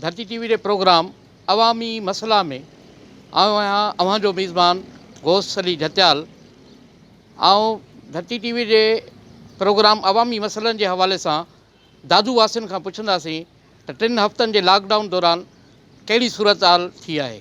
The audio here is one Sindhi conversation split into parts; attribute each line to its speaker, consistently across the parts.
Speaker 1: ڌرتي ٽي وي جي پروگرام عوامي مسئلا ۾ آئون آهيان اوهان جو ميزبان غوث علي جهتيال آئون ڌرتي ٽي وي جي پروگرام عوامي مسئلن جي حوالي سان دادو واسين کان پڇنداسين ته ٽن هفتن جي لاڪ ڊائون دوران ڪهڙي صورتحال ٿي آهي.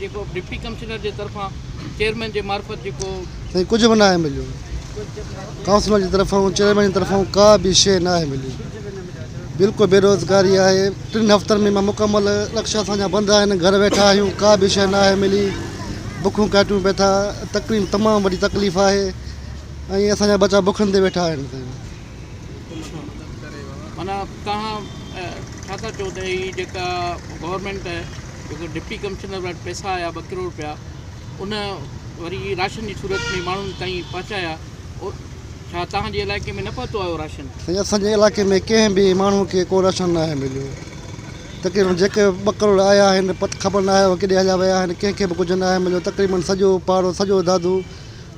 Speaker 1: جيڪو ڊپٽي ڪمشنر جي طرفان چيئرمين جي معرفت جيڪو. سائين ڪجهه به ناهي
Speaker 2: مليو. ڪائونسلر جي طرفان چيئرمين جي طرفان ڪا به شيء ناهي ملي. بلڪل بيروزگاري آهي. ٽن هفتن ۾ مڪمل رڪشا اسان جا بند آهن گهر ويٺا آهيون ڪا به شيء ناهي ملي بکون ڪاٽيون پئي ٿا تڪليف تمام وڏي تڪليف آهي ۽ اسان جا ٻچا بکن تي ويٺا آهن سائين.
Speaker 1: معنيٰ توهان ڇا ٿا چئو ته هي جيڪا گورنمينٽ جيڪو ڊپٽي ڪمشنر وٽ پئسا آيا ٻه ڪروڙ رپيا ان وري راشن جي صورت ۾ ماڻهن تائين پهچايا او ڇا توهان جي علائقي ۾ نه پهتو آهي اهو راشن؟ سائين اسان جي علائقي ۾
Speaker 2: ڪنهن به ماڻهو کي ڪو راشن ناهي مليو تقريبن جيڪي ٻه ڪروڙ آيا آهن پت خبر ناهي اهي ڪيڏي هليا ويا آهن ڪنهن کي به ڪجهه ناهي مليو تقريبن سڄو پاڙو سڄو دادو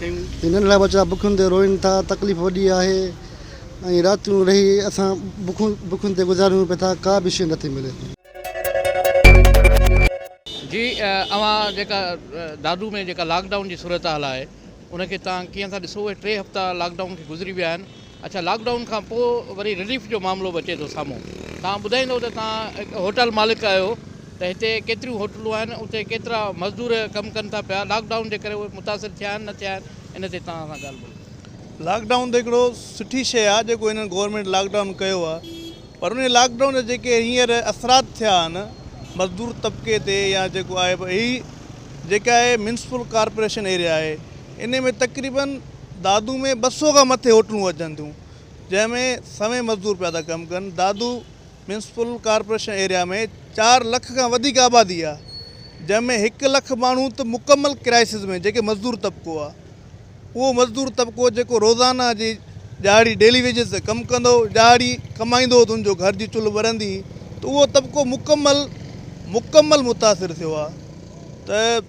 Speaker 1: هي ننڍڙا ٻچا
Speaker 2: بکن تي روئين ٿا، تڪليف وڏي آهي ۽ راتيون رهي اسان بکون بکن تي گذاريون پئي ٿا، ڪا به شيء نه ٿي ملي.
Speaker 1: جي اوهان جيڪا دادو ۾ جيڪا لاڪ ڊائون جي صورتحال آهي ان کي تان ڪيئن ٿا ڏسو اهي ٽي هفتا لاڪ ڊائون کي گذري ويا آهن. اچا لاڪ ڊائون کان پوء وري رليف جو معاملو به اچي ٿو سامهون توهان ٻڌائيندو ته توهان هڪ هوٽل مالڪ آهيو ته هتي ڪيتريون هوٽلون آهن اتي ڪيترا مزدور ڪم ڪن ٿا پيا لاڪ ڊائون جي ڪري اهي متاثر ٿيا آهن نه ٿيا آهن ان تي توهان سان ڳالهه ٻولهه ڪنداسين. لاڪ ڊائون ته هڪڙو
Speaker 3: سٺي شيء آهي جيڪو هنن گورنمينٽ لاڪ ڊائون ڪيو آهي پر انهي لاڪ ڊائون جا جيڪي هينئر اثرات ٿيا آهن مزدور طبقي تي يا جيڪو آهي اهي جيڪا اهي ميونسپل ڪارپوريشن ايريا آهي انهي ۾ تقريبن دادو ۾ ٻه سؤ کان مٿي هوٽلون اچن ٿيون جنهن ۾ سوين مزدور پيا ٿا ڪم ڪن دادو ميونسپل ڪارپوريشن ايريا ۾ چار لک کان وڌيڪ آبادي آ جنهن ۾ هڪ لک ماڻهو ته مڪمل ڪرائسز ۾ جيڪي مزدور طبقو آ اهو مزدور طبقو جيڪو روزانه جي ڏهاڙي ڊيلي ويجز تي ڪم ڪندو ڏهاڙي ڪمائيندو ته ان جو گهر جي چلهه ٻرندي ته اهو طبقو مڪمل مڪمل متاثر ٿيو آ ته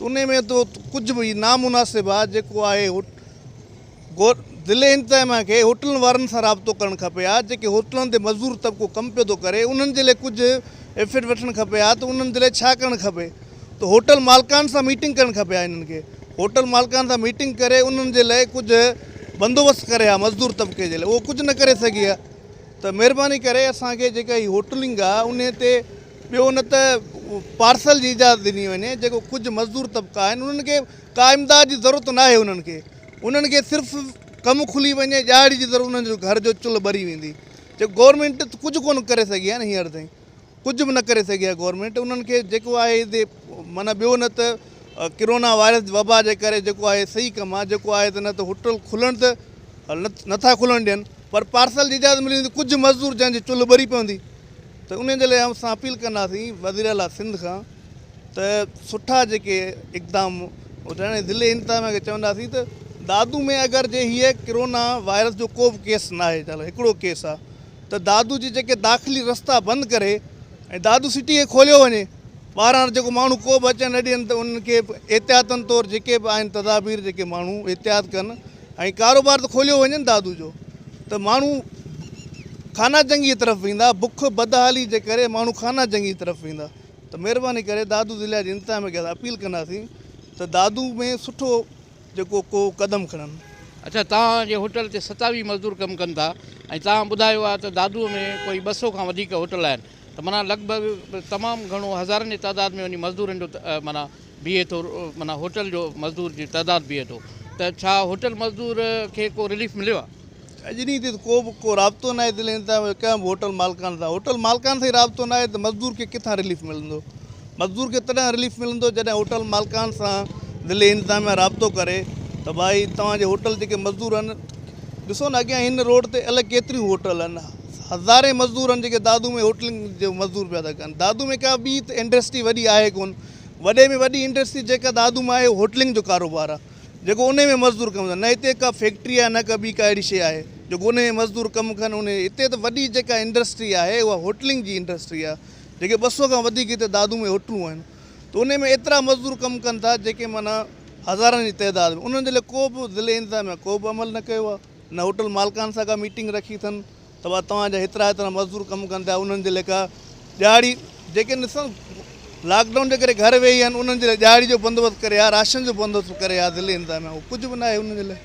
Speaker 3: انهي ۾ تو ڪجهه به هي نامناسب آ جيڪو آهي ضلعي انتظاميا کي هوٽلن وارن سان رابطو ڪرڻ کپي ها جيڪي هوٽلن تي مزدور طبقو ڪم پيو ٿو ڪري انهن جي لئي ڪجهه ايفٽ وٺڻ کپي ها ته انهن جي لئي ڇا ڪرڻ کپي ته هوٽل مالڪان سان ميٽنگ ڪرڻ کپي ها انهن کي هوٽل مالڪان سان ميٽنگ ڪري انهن جي لئي ڪجهه بندوبست ڪري ها مزدور طبقي جي لئي اهو ڪجهه نه ڪري سگهي ها ته مهرباني ڪري اسان کي جيڪا هي هوٽلنگ آ انهي تي ٻيو نه ته پارسل جي اجازت ڏني وڃي جيڪو ڪجهه مزدور طبقا آهن انهن کي ڪا امداد جي ضرورت نه آهي انهن کي انهن کي صرف ڪم کلي وڃي ڄاڙي جي ضرورت انهن جو گهر جو چلهه ٻري ويندي جي گورنمينٽ ڪجهه ڪونه ڪري سگهي آهي نه هينئر تائين ڪجهه به نه ڪري سگهي آهي گورنمينٽ انهن کي جيڪو آهي معنيٰ ٻيو نه ته ڪرونا وائرس وبا جي ڪري جيڪو آهي صحيح ڪم آهي جيڪو آهي ته نه ته هوٽل کلڻ ته نٿا کلڻ ڏين پر پارسل جي اجازت ملي ويندي ڪجهه مزدور جنهن جي چلهه ٻري پوندي ته انهي جي لاء اسان اپيل ڪنداسين وزيراعليٰ سنڌ کان ته سٺا جيڪي اقدام هجن ۽ ضلعي انتظاميا کي چونداسين ته دادو ۾ اگر جي هيء ڪرونا وائرس جو ڪو به ڪيس ناهي جا هڪڙو ڪيس آ ته دادو جي جيڪي داخلي رستا بند ڪري ۽ دادو سٽي کي کوليو وڃي ٻاهران جيڪو ماڻهو ڪو به اچڻ نه ڏين ته انهن کي احتياطن طور جيڪي به آهن تدابير جيڪي ماڻهو احتياط ڪن ۽ ڪاروبار ته کوليو وڃي نه دادو جو ته ماڻهو خانه جنگيء طرف ويندا، بک بدحالي جي ڪري ماڻهو خانه جنگيء طرف ويندا ته مهرباني ڪري دادو ضلعي جي انتظاميه کي اسان اپيل ڪنداسين ته دادو ۾ سٺو جيڪو ڪو قدم کڻن. اڇا توهان
Speaker 1: جي هوٽل تي ستاويهه مزدور ڪم ڪن ٿا ۽ توهان ٻڌايو آهي ته دادو ۾ ڪوئي ٻه سؤ کان وڌيڪ هوٽل آهن ته معنيٰ لڳ ڀڳ تمام گهڻو هزارن جي تعداد ۾ وڃي مزدورن جو معنيٰ بيهي ٿو معنيٰ هوٽل جو مزدور جي تعداد بيهي ٿو ته ڇا هوٽل مزدور کي ڪو رليف مليو آهي؟ اڄ ڏينهن تي ته ڪو
Speaker 3: به ڪو رابطو ناهي ضلعي انتظاميه جو ڪنهن به هوٽل مالڪان سان هوٽل مالڪان سان ئي رابطو ناهي ته مزدور کي ڪٿان رليف ملندو مزدور کي تڏهن رليف ملندو جڏهن هوٽل مالڪان سان ضلعي انتظاميه رابطو ڪري ته ڀائي توهان جي هوٽل جيڪي مزدور آهن ڏسو نه اڳيان هن روڊ تي الائي ڪيتريون هوٽل آهن هزارين مزدور آهن جيڪي دادو ۾ هوٽلنگ جو مزدور پيا ٿا ڪن دادو ۾ ڪا ٻي ته انڊسٽري وڏي آهي ڪونه وڏي ۾ وڏي انڊسٽري جيڪا دادو مان آهي هوٽلنگ جو ڪاروبار آهي جيڪو ان ۾ مزدور ڪم ڪن نه هتي ڪا فيڪٽري آهي نه ڪا ٻي ڪا اهڙي شيء آهي جيڪو ان ۾ مزدور ڪم ڪن ان هتي ته وڏي جيڪا انڊسٽري آهي اها هوٽلنگ جي انڊسٽري آهي جيڪي ٻه سؤ کان وڌيڪ هتي دادو ۾ هوٽلون آهن ته ان ۾ ايترا مزدور ڪم ڪن ٿا جيڪي معنيٰ هزارن جي تعداد ۾ انهن جي لاء ڪو به ضلعي انتظاميا ڪو به عمل نه ڪيو آهي نه هوٽل مالڪان سان ڪا ميٽنگ رکي اٿن توهان توهان جا هيترا هيترا مزدور ڪم ڪن ٿا انهن جي ليکا ڏهاڙي جيڪي نسل لاڪ ڊائون جي ڪري گهر ويهي آهن انهن جي لاء ڏهاڙي جو بندوبست ڪري ها راشن جو بندوبست ڪري ها ضلعي انتظاميا اهو ڪجهه به ناهي انهن جي لاء.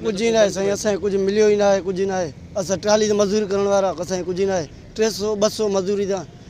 Speaker 4: ڪجهه ئي ناهي سائين اسان کي ڪجهه مليو ئي ناهي ڪجهه ئي ناهي اسان ٽرالي تي مزوري ڪرڻ وارا اسان کي ڪجهه ئي ناهي ٽي سئو ٻه سئو مزوري تان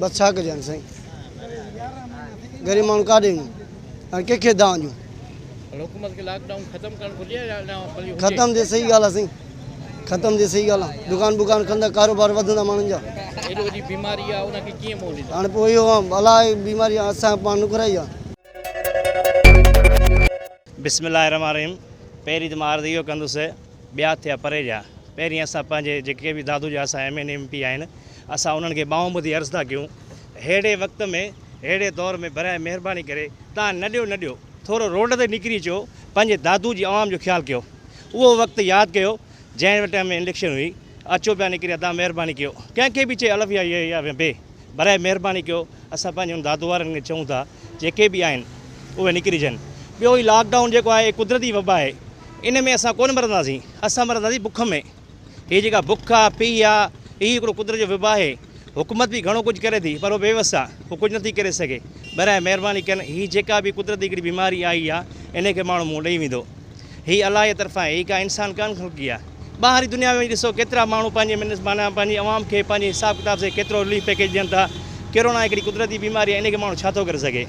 Speaker 1: بس ڇا ڪجي هاڻي سائين
Speaker 4: غريب ماڻهو ڪاڏي وڃون هاڻي ڪنهن کي دانهن ڏيون
Speaker 1: ختم ٿئي صحيح
Speaker 4: ڳالهه آهي سائين ختم ٿئي صحيح ڳالهه آهي دڪان بڪان کندا ڪاروبار وڌندا ماڻهن جا
Speaker 1: هاڻي پوء اهو الاء
Speaker 4: بيماري اسان پاڻ نڪرائي آهي
Speaker 5: بسم الله الرحمن الرحيم پهرين ته مان عرض اهو ڪندس ٻيا ٿيا پري جا پهرين اسان پنهنجي جيڪي به دادو جا اسان ايم اين ايم پي آهن اسان انهن کي ٻانهون ٻڌي عرض ٿا ڪيون ههڙي وقت ۾ ههڙي دور ۾ برائي مهرباني ڪري تان نه ڏيو نه ڏيو ٿورو روڊ تي نڪري اچو پنهنجي دادو جي عوام جو خيال ڪيو اهو وقت ياد ڪيو جنهن ٽائيم ۾ اليڪشن هئي اچو پيا نڪري ادا مهرباني ڪيو ڪنهن کي به چئي الف يا يا يا بي براء مهرباني ڪيو اسان پنهنجي ان دادو وارن کي چئون ٿا جيڪي به آهن اهي نڪرجن ٻيو هي لاڪ ڊائون جيڪو آهي قدرتي وبا آهي ان ۾ اسان ڪونه مرنداسين اسان مرنداسين بک ۾ هي جيڪا بک آهي پيهه آهي هي هڪڙو قدرت جو وبا آهي حڪومت به گهڻو ڪجهه ڪري ٿي پر هو بيوس آهي هو ڪجهه نٿي ڪري سگهي براء مهرباني ڪن هي جيڪا به قدرتي هڪڙي بيماري آئي آهي ان کي ماڻهو منهن ڏئي ويندو هي الاهي طرفان هي ڪا انسان ڪانه خلقي آ ٻاهري دنيا ۾ وڃي ڏسو ڪيترا ماڻهو پنهنجي منس معنيٰ پنهنجي عوام کي پنهنجي حساب ڪتاب سي ڪيترو رليف پيڪيج ڏين ٿا ڪيرونا هڪڙي قدرتي بيماري آ انهي کي ماڻهو ڇا ٿو ڪري سگهي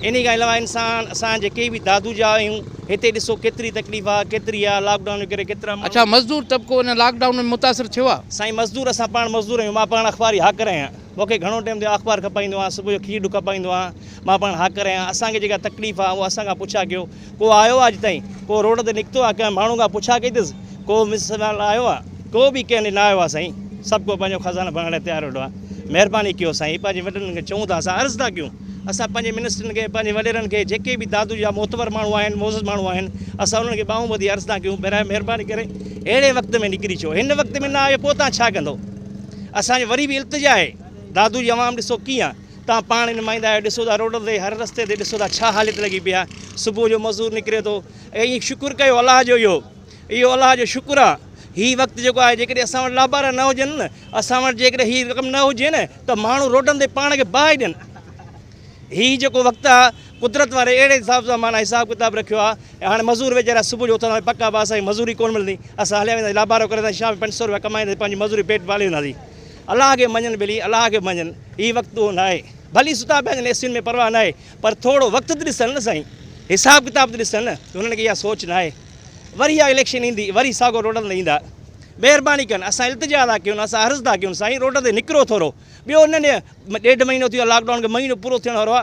Speaker 5: انهي کان علاوه انسان اسان جيڪي به دادو جا آهيون هتي ڏسو ڪيتري تڪليف آ ڪيتري آ لاڪ ڊائون جي ڪري ڪيترا ماڻهو اڇا مزدور طبقو
Speaker 1: ان لاڪ ڊائون ۾ متاثر ٿيو آ. سائين مزدور اسان پاڻ
Speaker 5: مزدور آهيون مان پاڻ اخباري هاڪر آهيان. مون کي گهڻو ٽيم ٿيو آهي اخبار کپائيندو آهيان صبح جو کير ڏک کپائيندو آهيان مان پاڻ هاڪر آهيان اسان کي جيڪا تڪليف آهي اها اسان کان پڇا ڪيو ڪو آيو آهي اڄ تائين ڪو روڊ تي نڪتو آهي ڪنهن ماڻهو کان پڇا ڪئي اٿس ڪو مثال آيو آهي ڪو به ڪنهن ڏي نه آيو آهي سائين سڀ ڪو پنهنجو خزانو ڀرڻ لاء تيار ويٺو آهي مهرباني ڪيو سائين پنهنجي وڏڙن کي چئون ٿا اسان عرض ٿا ڪيون اسان پنهنجي منسٽرن کي پنهنجي وڏيرن کي جيڪي به دادو جا معتبر ماڻهو آهن معزز ماڻهو آهن اسان انهن کي ٻانهون ٻڌي عرض ٿا ڪيون برائي مهرباني ڪري اهڙي وقت ۾ نڪري اچو هن وقت ۾ نه آيو پوء تان ڇا ڪندو اسان جي وري به التجا آهي دادو جي عوام ڏسو ڪيئن توهان پاڻ نمائندا آهيو ڏسو ٿا روڊن تي هر رستي تي ڏسو ٿا ڇا حالت لڳي پئي آهي صبح جو مزور نڪري ٿو ائين شڪر ڪيو الله جو اهو اهو الله جو شڪر آهي هي وقت جيڪو آهي جيڪڏهن اسان وٽ لابارا نه هجن نه اسان وٽ جيڪڏهن هي رقم نه هجي نه ته ماڻهو روڊن تي پاڻ کي باهه ڏين هي جيڪو وقت آهي قدرت واري اهڙي حساب سان معنيٰ حساب ڪتاب رکيو آ ۽ هاڻي مزور ويچارا صبح جو اٿندا پڪ آ اسان کي مزوري ڪونه ملندي اسان هليا وينداسين لابارو ڪري اينداسين شام جو پنج سؤ روپيا ڪمائينداسين پنهنجي مزوري پيٽ پالي وينداسين الله کي مڃن ڀلي الله کي مڃن هي وقت اهو ناهي ڀلي ستا پيا هجن اي سين ۾ پرواهه ناهي پر ٿورو وقت ته ڏسن نه سائين حساب ڪتاب ته ڏسن نه هنن کي اها سوچ ناهي وري اها اليڪشن ايندي وري ساڳو روڊن تي ايندا مهرباني ڪن اسان التجا ٿا ڪيون اسان عرض ٿا ڪيون سائين روڊ تي نڪرو ٿورو ٻيو نه ڏيڍ مهينو ٿيو لاڪ ڊائون کي مهينو پورو ٿيڻ وارو آ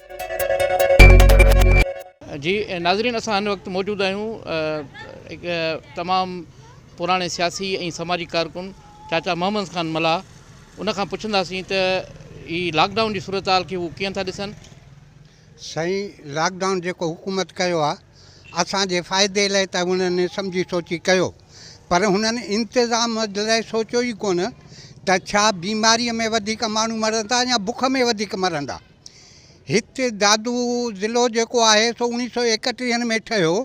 Speaker 1: جي ناظرين اسان هن وقت موجود آهيون هڪ تمام پراڻي سياسي ۽ سماجي ڪارڪن چاچا محمد خان ملاح ان کان پڇنداسين ته هي لاڪ ڊائون جي صورتحال کي هو ڪيئن ٿا ڏسن. سائين
Speaker 6: لاڪ ڊائون جيڪو حڪومت ڪيو آ اسان جي فائدي لاء ته انهن سمجهي سوچي ڪيو پر هنن انتظام لاء سوچيو ئي ڪونه ته ڇا بيماري ۾ وڌيڪ ماڻهو مرندا يا بک ۾ وڌيڪ مرندا. هت دادو ضلعو جيڪو آهي سو اوڻيھ سؤ ايڪٽيهن ۾ ٺهيو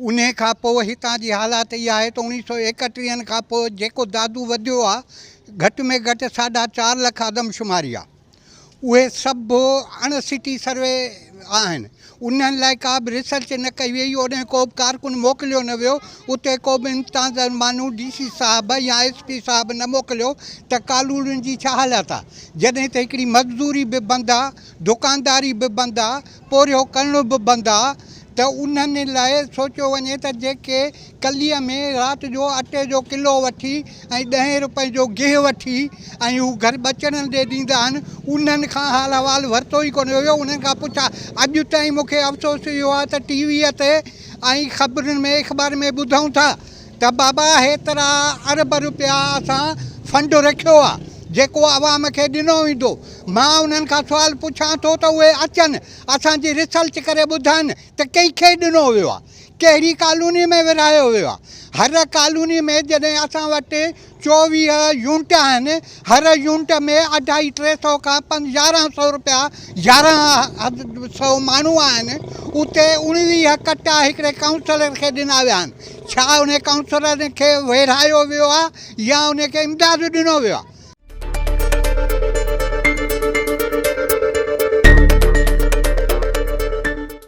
Speaker 6: انهي کان پوء هتان جي حالات اهي آهي ته اوڻيھ سؤ ايڪٽيهن کان پوء جيڪو دادو وڌيو آهي گهٽ ۾ گهٽ ساڍا چار لک آدمشماري آهي اهي سڀ اڻ سٽي سروي آهن انهن لاء ڪا به ريسرچ نه ڪئي ويئي، اوڏانهن ڪو به ڪارڪن موڪليو نه ويو، اتي ڪو به امتانزر ماڻهو ڊي سي صاحب يا ايس پي صاحب نه موڪليو ته ڪالوڙين جي ڇا حالات آ؟ جڏهن ته هڪڙي مزدوري به بند آ، دڪانداري به بند آ، پورهيو ڪرڻو به بند آ ته انهن لاء سوچيو وڃي ته جيڪي ڪليء ۾ رات جو اٽي جو ڪلو وٺي ۽ ڏهين روپئين جو گيهه وٺي ۽ هو گهر ٻچڙن ڏي ڏيندا آهن، انهن کان حال احوال ورتو ئي ڪونه ويو، انهن کان پڇا اڄ تائين مون کي افسوس اهو آهي ته ٽي ويء تي ۽ خبرن ۾ اخبارن ۾ ٻڌون ٿا ته بابا هيترا ارب روپيا اسان فنڊ رکيو آهي جيڪو عوام کي ڏنو ويندو مان انهن کان سوال پڇان ٿو ته اهي اچن اسان جي ريسرچ ڪري ٻڌائن ته ڪنهن کي ڏنو ويو آهي. ڪهڙي ڪالوني ۾ ورهايو ويو آهي. هر ڪالوني ۾ جڏهن اسان وٽ چوويهه يونٽ آهن، هر يونٽ ۾ اڍائي ٽي سئو کان يارهن سئو رپيا يارهن سئو ماڻهو آهن، اتي اڻويهه ڪٽا هڪڙي ڪائونسلر کي ڏنا ويا آهن. ڇا ان ڪائونسلر کي ويڙهايو ويو آهي يا ان کي امداد ڏنو ويو آهي؟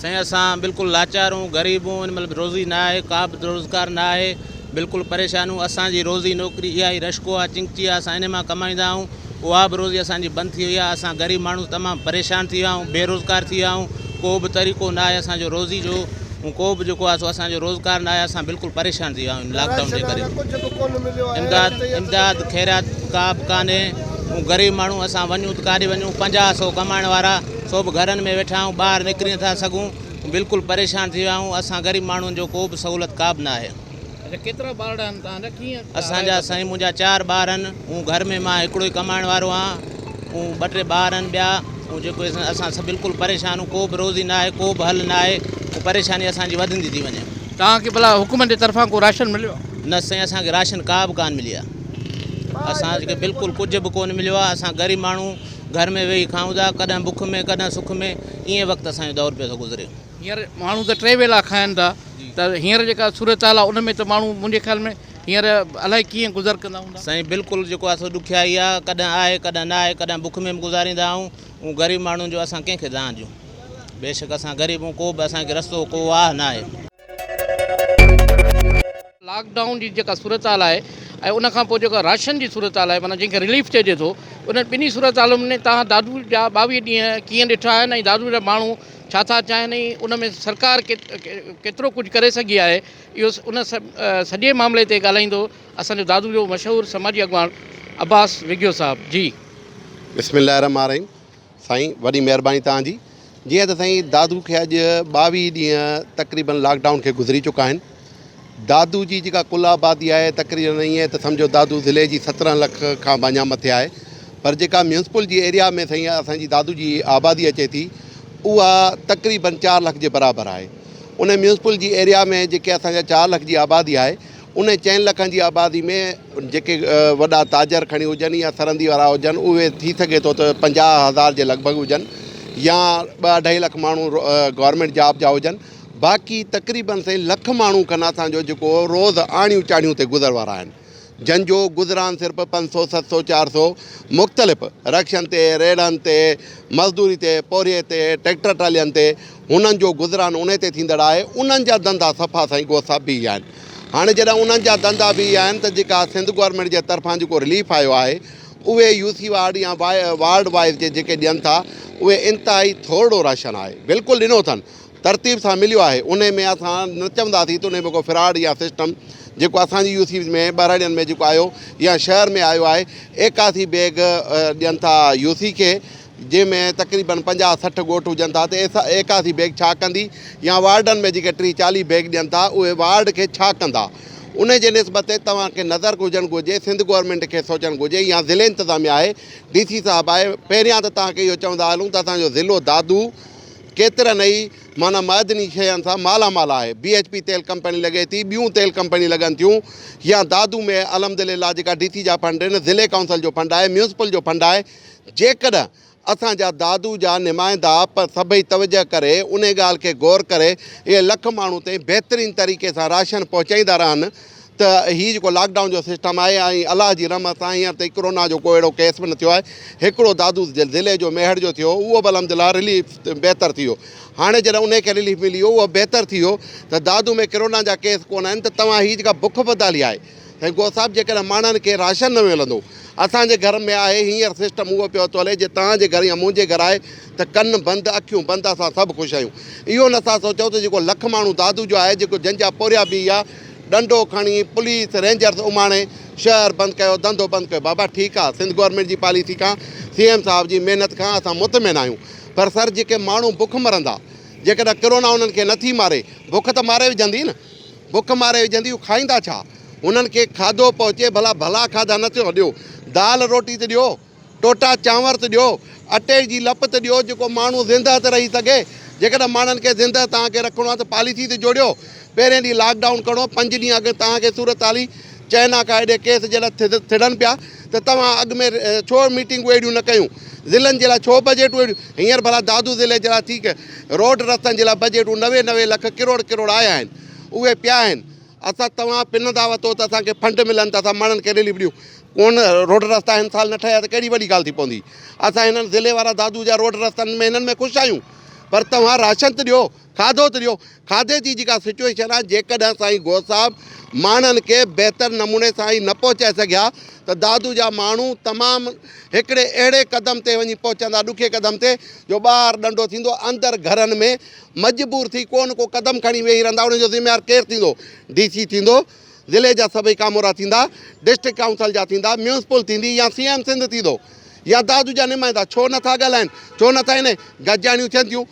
Speaker 1: سائين اسان
Speaker 7: بلڪل لاچار اون غريب اون ان مھل روزي نه آھي ڪا به روزگار نه آھي بلڪل پريشان اون اسان جي روزي نوڪري اھا ئي رشڪو آ چنگچي آ اسان انھي مان ڪمائيندا اھون اھا به روزي اسان جي بند ٿي وئي آ اسان غريب ماڻھو تمام پريشان ٿي ويا اھون بي روزگار ٿي ويا اھون ڪو به طريقو نه آھي اسان جو روزي جو اون ڪو به جيڪو آ سو اسان جو روزگار نه آھي اسان بلڪل پريشان ٿي ويا اھون لاڪ ڊائون جي ڪري امداد امداد خيرات ڪا به ڪانھي اون غريب ماڻھو اسان وڃون ته ڪاڏي وڃون پنجاھ سئو ڪمائڻ وارا سو به گهرن ۾ ويٺا آهيون ٻاهر نڪري نٿا سگهون بلڪل پريشان ٿي ويا آهيون اسان غريب ماڻهن جو ڪو به سهولت ڪا به ناهي. اچا ڪيترا ٻارڙا
Speaker 1: آهن توهان جا ڪيئن سهارا اسان جا سائين منهنجا
Speaker 7: چار ٻار آهن ائون گهر ۾ مان هڪڙو ئي ڪمائڻ وارو آهيان ائون ٻه ٽي ٻار آهن ٻيا ائون جيڪو اسان اسان سڀ بلڪل پريشان آهيون ڪو به روزي ناهي ڪو به حل ناهي ائون پريشاني اسان جي وڌندي ٿي وڃي. توهان کي ڀلا حڪومت
Speaker 1: جي طرفان ڪو راشن مليو آهي. نه سائين اسان کي
Speaker 7: راشن ڪا به ڪانه ملي آهي اسان کي بلڪل ڪجهه به ڪونه مليو آهي اسان غريب ماڻهو گهر ۾ ويهي کائون ٿا، ڪڏهن بک ۾ ڪڏهن سک ۾، ائين وقت اسان جو دور پيو ٿو گذري. هينئر ماڻهو ته
Speaker 1: ٽي ويلا کائن ٿا ته هينئر جيڪا صورتحال آهي ان ۾ ته ماڻهو منهنجي خيال ۾ هينئر الائي ڪيئن گذر ڪندا هوندا. سائين بلڪل جيڪو آهي سو
Speaker 7: ڏکيائي آهي، ڪڏهن آهي ڪڏهن نه آهي، ڪڏهن بک ۾ به گذاريندا آهيون، اون غريب ماڻهن جو اسان ڪنهن کي دانهن ڏيون، بيشڪ اسان غريب اهون ڪو به اسان کي رستو ڪو واهه ناهي.
Speaker 1: لاڪ ڊائون جي جيڪا صورتحال آهي ۽ ان کان پوء جيڪا راشن جي صورتحال آهي معنيٰ جنهن کي رليف چئجي ٿو انهن ٻنهي صورتحالن ۾ تهان دادو جا ٻاويهه ڏينهن ڪيئن ڏٺا آهن ۽ دادو جا ماڻهو ڇا ٿا چاهين ۽ ان ۾ سرڪار ڪيترو ڪجهه ڪري سگهي آهي اهو ان سڄي معاملي تي ڳالهائيندو اسان جو دادو جو مشهور سماجي اڳواڻ عباس وگهيو صاحب جي. بسم الله الرحمٰن
Speaker 8: الرحيم سائين وڏي مهرباني توهان جي جيئن ته سائين دادو کي اڄ ٻاويهه ڏينهن تقريبن لاڪ ڊائون کي گذري چڪا آهن دادو جي جيڪا ڪل آبادي آهي تقريبن ائين ته سمجهو دادو ضلعي جي سترهن لک کان به اڃا مٿي آهي پر جيڪا ميونسپل جي ايريا ۾ سائين اسان جي دادو جي آبادي اچي ٿي اها تقريبن چار لک جي برابر آهي ان ميونسپل جي ايريا ۾ جيڪي اسان جا چار لک جي آبادي آهي انهن چئن لکن جي آبادي ۾ جيڪي وڏا تاجر کڻي هجن يا سرندي وارا هجن اهي ٿي سگهي ٿو ته پنجاهه هزار جي لڳ ڀڳ هجن يا ٻه اڍائي لک ماڻهو گورنمينٽ جاب جا هجن باقي تقريبن سائين لک ماڻهو کن اسان جو جيڪو روز آڻيون چاڙهيون تي گذر وارا آهن جن جو گذران صرف پنج سو ست سو چار سو مختلف رڪشن تي ريڙهن تي مزدوري تي پورهيي تي ٽريڪٽر ٽرالين تي هنن جو گذران انهي تي ٿيندڙ آهي. انهن جا ڌنڌا صفا سائين گوهه صاحب بيهي ويا آهن. هاڻي جڏهن انهن جا ڌنڌا بيهي ويا آهن ته جيڪا سنڌ گورنمينٽ جي طرفان جيڪو رليف آيو آهي اهي يو سي وارڊ يا وارڊ وائيز جي جيڪي ڏين ٿا اهي انتهائي ٿورڙو راشن آهي بلڪل ڏنو اٿن ترتيب سان مليو آهي انهي ۾ اسان نه چونداسين ته انهي ۾ ڪو فراڊ يا سسٽم جيڪو اسان جي يو سي ۾ ٻهراڙين ۾ جيڪو آيو يا شهر ۾ آيو آهي ايڪاسي بيگ ڏين ٿا يو سي کي جنهن ۾ تقريبن پنجاهه سٺ ڳوٺ هجن ٿا ته ايڪاسي بيگ ڇا ڪندي يا وارڊن ۾ جيڪي ٽيهه چاليهه بيگ ڏين ٿا اهي وارڊ کي ڇا ڪندا ان جي نسبت تي توهان کي نظر هجڻ گهرجي سنڌ گورنمينٽ کي سوچڻ گهرجي يا ضلعي انتظاميه آهي ڊي سي صاحب آهي پهريان ته توهان کي اهو چوندا هلون ته اسان جو ضلعو دادو ڪيترن ئي معنيٰ معدني شين سان مالا مال آهي بي ايچ پي تيل ڪمپني لڳي ٿي ٻيون تيل ڪمپنيون لڳن ٿيون يا دادو ۾ الحمد لله جيڪا ڊي سي جا فنڊ آهن ضلعي ڪائونسل جو فنڊ آهي ميونسپل جو فنڊ آهي جيڪڏهن اسان جا دادو جا نمائندا پر سڀئي توجهه ڪري انهي ڳالهه کي غور ڪري اهي لک ماڻهو تائين بهترين طريقي سان راشن پهچائيندا رهن ته هي جيڪو لاڪ ڊائون جو سسٽم آهي ۽ الله جي رحمت سان هينئر تائين ڪرونا جو ڪو اهڙو ڪيس به نه ٿيو آهي هڪڙو دادو ضلعي جو ميهڙ جو ٿيو اهو به الحمدلله رليف بهتر ٿي ويو هاڻي جڏهن انهي کي رليف ملي ويو اهو بهتر ٿي ويو ته دادو ۾ ڪرونا جا ڪيس ڪونه آهن ته توهان هي جيڪا بک بدحالي آهي هينگو صاحب جيڪڏهن ماڻهن کي راشن نه ملندو اسان جي گهر ۾ آهي هينئر سسٽم اهو پيو ٿو هلي جي توهان جي گهر يا منهنجي گهر آهي ته ڪن بند اکيون بند اسان سڀ خوش آهيون اهو نه ٿا سوچئون ته جيڪو لک ماڻهو دادو جو آهي جيڪو جن جا پورهيا بيهيا ڏنڊو کڻي پوليس رينجرز اماڻي شهر بند ڪيو ڌنڌو بند ڪيو بابا ٺيڪ آهي سنڌ گورنمينٽ جي پاليسي کان سي ايم صاحب جي محنت کان اسان مطمئن آهيون پر سر جيڪي ماڻهو بک مرندا جيڪڏهن ڪرونا انهن کي نه ٿي ماري بک ته ماري وجهندي نه. بک ماري وجهندي هو کائيندا ڇا؟ هنن کي کاڌو پهچي ڀلا ڀلا کاڌا نه ٿيو ڏيو دال روٽي ته ڏيو ٽوٽا چانور ته ڏيو اٽي جي لپ ته ڏيو جيڪو ماڻهو زندهه ته رهي سگهي جيڪڏهن ماڻهن کي زندهه توهان کي رکڻو آهي ته پاليسي ته جوڙيو پهرين ڏينهن لاڪ ڊائون ڪرڻو پنج ڏينهن اڳ توهان کي صورتحالي چئنا کان ايڏي ڪيس جڏهن ٿڙن پيا ته توهان اڳ ۾ ڇو ميٽنگون اهڙيون نه ڪيون ضلعن جي لاء ڇو بجيٽون اهڙيون هينئر ڀلا دادو ضلعي جي لاء ٿي روڊ رستن جي لاء بجيٽون نوي نوي لک ڪروڙ ڪروڙ آيا آهن اهي پيا آهن اسان توهان پنندا وتو ته اسان کي فنڊ ملن ته اسان ماڻهن کي رليف ڏيون ڪون روڊ رستا هن سال نه ٺهيا ته ڪهڙي وڏي ڳالهه ٿي پوندي اسان هنن ضلعي وارا دادو جا روڊ رستن ۾ هنن ۾ خوش آهيون پر توهان راشن ته ڏيو کاڌو ته ڏيو کاڌي جي جيڪا سچوئيشن آهي جيڪڏهن سائين غوث صاحب ماڻهن کي بهتر نموني سان هي نه پهچائي سگهيا ته دادو جا ماڻهو تمام هڪڙي اهڙي قدم تي وڃي پهچندا ڏکي قدم تي جو ٻاهر ڏنڊو ٿيندو اندر گهرن ۾ مجبور ٿي ڪو نه ڪو قدم کڻي ويهي رهندا ان جو ذميوار ڪير ٿيندو ڊي سي ٿيندو ضلعي جا سڀئي ڪامورا ٿيندا ڊسٽرڪٽ ڪائونسل جا ٿيندا ميونسپل ٿيندي يا سي ايم سنڌ ٿيندو يا دادو جا نمائندا ڇو نٿا ڳالهائن ڇو نٿا هن گجاڻيون ٿين ٿيون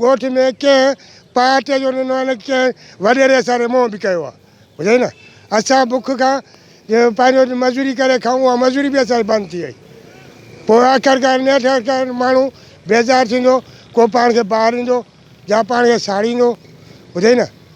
Speaker 9: ڳوٺ ۾ ڪنهن پارٽيء جو ننهن نه ڪنهن وڏيري اسان تي موهه به ڪيو آهي. ٻڌئي نه! اسان بک کان پنهنجو مزوري ڪري کائون، اها مزوري به اسان جي بند ٿي وئي. پوء آخرڪار نيٺ آخرڪار ماڻهو بيزار ٿيندو، ڪو پاڻ کي ٻاريندو، يا پاڻ کي ساڙيندو. ٻڌئي نه!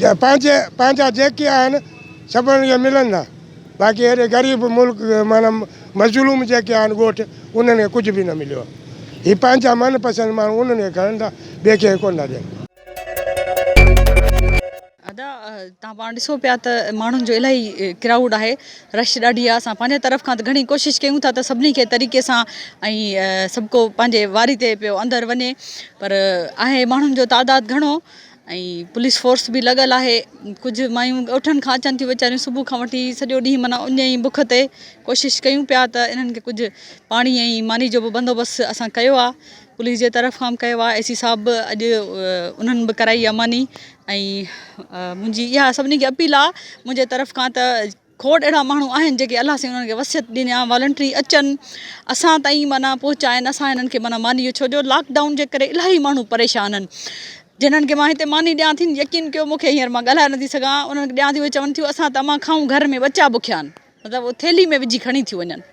Speaker 9: جا پنهنجي پنهنجا جيڪي آهن سڀن کي ملندا باقي اهڙي غريب ملڪ معنيٰ مظلوم جيڪي آهن ڳوٺ انهن کي ڪجهه به نه مليو آهي هي پنهنجا من پسند ماڻهو انهن کي کڻن ٿا ٻئي کي ڪو نه ڏين. ادا
Speaker 10: تان پاڻ ڏسو پيا ته ماڻهن جو الاهي ڪرائوڊ آهي رش ڏاڍي آهي اسان پنهنجي طرف کان ته گهڻي ڪوشش ڪيون ٿا ته سڀني کي طريقي سان ۽ سڀڪو پنهنجي واري تي پيو اندر وڃي پر آهي ماڻهن جو تعداد گهڻو ۽ پوليس فورس به لڳل آهي ڪجهه مايون ڳوٺن کان اچن ٿيون ويچاريون صبح کان وٺي سڄو ڏينهن معنيٰ اڃ ئي بک تي ڪوشش ڪيون پيا ته انهن کي ڪجهه پاڻي ۽ ماني جو به بندوبست اسان ڪيو آهي پوليس جي طرف کان به ڪيو آهي اي سي صاحب به اڄ انهن به ڪرائي آهي ماني ۽ منهنجي اها سڀني کي اپيل آهي منهنجي طرف کان ته کوڙ اهڙا ماڻهو آهن جيڪي الله سائين انهن کي وصيت ڏني آ والنٽري اچن اسان تائين معنيٰ پهچائن اسان هنن کي معنيٰ ماني ڇو جو لاڪ ڊائون جي ڪري الاهي ماڻهو پريشان آهن جنهن کي مان هتي ماني ڏيان ٿي يقين ڪيو مونکي هينئر مان ڳالهائي نٿي سگهان انهن کي ڏيان ٿي اهي چون ٿيون اسان ته امان کائون گهر ۾ ٻچا بکيا آهن مطلب ٿيلهي ۾ وجهي کڻي ٿيون وڃن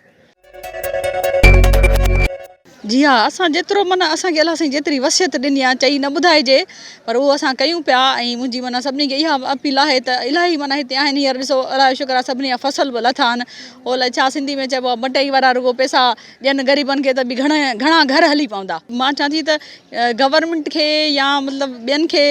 Speaker 10: جي ها اسان جيترو معنيٰ اسان کي الله سائين جيتري وصيت ڏني آهي چئي نه ٻڌائجي پر اهو اسان ڪيون پيا ۽ منهنجي معنيٰ سڀني کي اها اپيل آهي ته الاهي معنيٰ هتي آهن هينئر ڏسو الله جو شڪر آهي سڀني جا فصل به لٿا آهن هو لئه ڇا سنڌي ۾ چئبو آهي مٽئي وارا رڳو پئسا ڏين غريبن کي ته به گهڻا گهر هلي پوندا مان چوان ٿي ته گورنمينٽ کي يا مطلب ٻين کي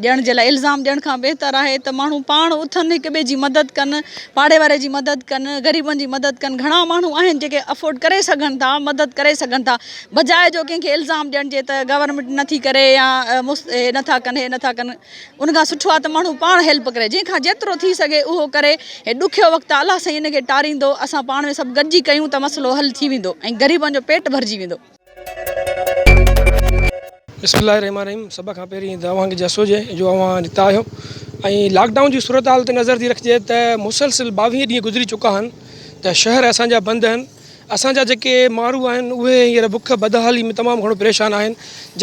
Speaker 10: ڏيڻ جي لاء الزام ڏيڻ کان بهتر آهي ته ماڻهو پاڻ اٿن هڪ ٻئي جي مدد ڪن پاڙي واري جي مدد ڪن غريبن جي مدد ڪن گهڻا ماڻهو آهن جيڪي افورڊ ڪري سگهن ٿا مدد ڪري سگهن ٿا بجاء جو ڪنهن کي الزام ڏيڻ جي ته گورنمينٽ نٿي ڪري يا هي نٿا ڪن هي نٿا ڪن ان کان سٺو آهي ته ماڻهو پاڻ هيلپ ڪري جنهن کان جيترو ٿي سگهي اهو ڪري هي ڏکيو وقت آهي الله سائين ان کي ٽاريندو اسان پاڻ ۾ سڀ گڏجي ڪيون ته مسئلو حل ٿي ويندو ۽ غريبن جو پيٽ ڀرجي ويندو
Speaker 11: بسم الله الرحمن الرحيم سڀ کان پهرين ته اوهان کي جس هجي جو اوهان جتان آهيو ۽ لاڪ ڊائون جي صورتحال تي نظر ٿي رکجي ته مسلسل ٻاويهه ڏينهن گذري چڪا آهن ته شهر اسان جا بند آهن اسان جا جيڪي ماڻهو آهن اهي هينئر بک بدحالي ۾ تمام گهڻو پريشان آهن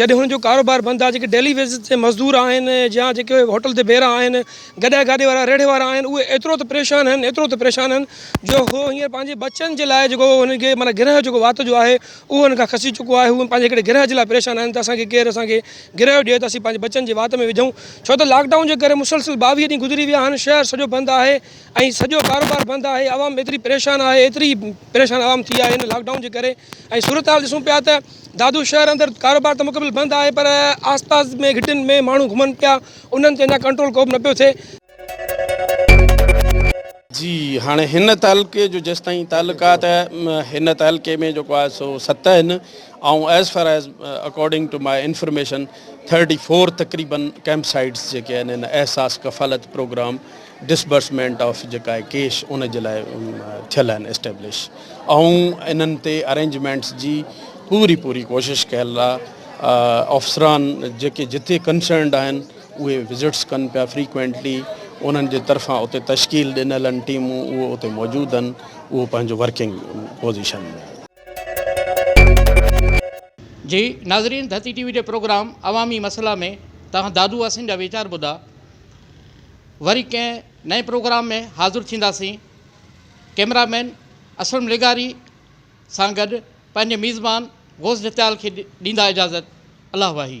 Speaker 11: جڏهن هنن جو ڪاروبار بند آهي جيڪي ڊيلي ويجز تي مزدور آهن يا جيڪي هوٽل تي بيرا آهن گڏهه گاڏي وارا ريڙهه وارا آهن اهي ايترو ته پريشان آهن ايترو ته پريشان آهن جو هو هينئر پنهنجي ٻچن جي لاء جيڪو هن کي معنيٰ گرهه جيڪو وات جو آهي اهو هن کان کسي چڪو آهي هو پنهنجي هڪڙي گرهه جي لاء پريشان آهن ته اسان کي ڪير اسان کي گرهه ڏئي ته اسين پنهنجي ٻچن جي وات ۾ وجهون ڇو ته لاڪ ڊائون جي ڪري مسلسل ٻاويهه ڏينهن گذري ويا آهن شهر سڄو بند آهي ۽ سڄو ڪاروبار بند آهي عوام ايتري پريشان آهي ايتري پريشان عوام ٿي آهي هن لاڪ ڊائون جي ڪري ۽ صورتحال ڏسون پيا ته دادو شهر اندر ڪاروبار ته مڪمل بند آهي پر آس پاس ۾ گهٽين ۾ ماڻهو گهمن پيا انهن تي اڃا ڪنٽرول ڪوبه نه پيو ٿئي.
Speaker 12: جي هاڻي هن تعلقي جو جيستائين تعلقات هن تعلقي ۾ جيڪو آهي سو ست آهن ۽ as far as according to my information thirty four تقريبن ڪيمپ سائيٽس جيڪي آهن هن Ehsaas Kafalat program disbursement of جيڪا آهي ڪيش ان جي لاء ٿيل آهن اسٽيبلش ۽ انهن تي ارينجمينٽس جي پوري پوري ڪوشش ڪيل آهي افسران جيڪي جتي ڪنسرنڊ آهن اهي وزٽس ڪن پيا فريڪوينٽلي انهن جي طرفان اتي تشڪيل ڏنل آهن ٽيمون اهو اتي موجود آهن اهو پنهنجو ورڪنگ پوزيشن ۾
Speaker 1: جي ناظرين ڌرتي ٽي وي جي پروگرام عوامي مسئلا ۾ توهان دادو حسين جا ويچار ٻڌا وري ڪنهن نئين پروگرام ۾ حاضر ٿينداسين ڪيمرا مين اسلم لغاري سان گڏ پنهنجي ميزبان غوث جتيال کي ڏيندا اجازت الله واهي.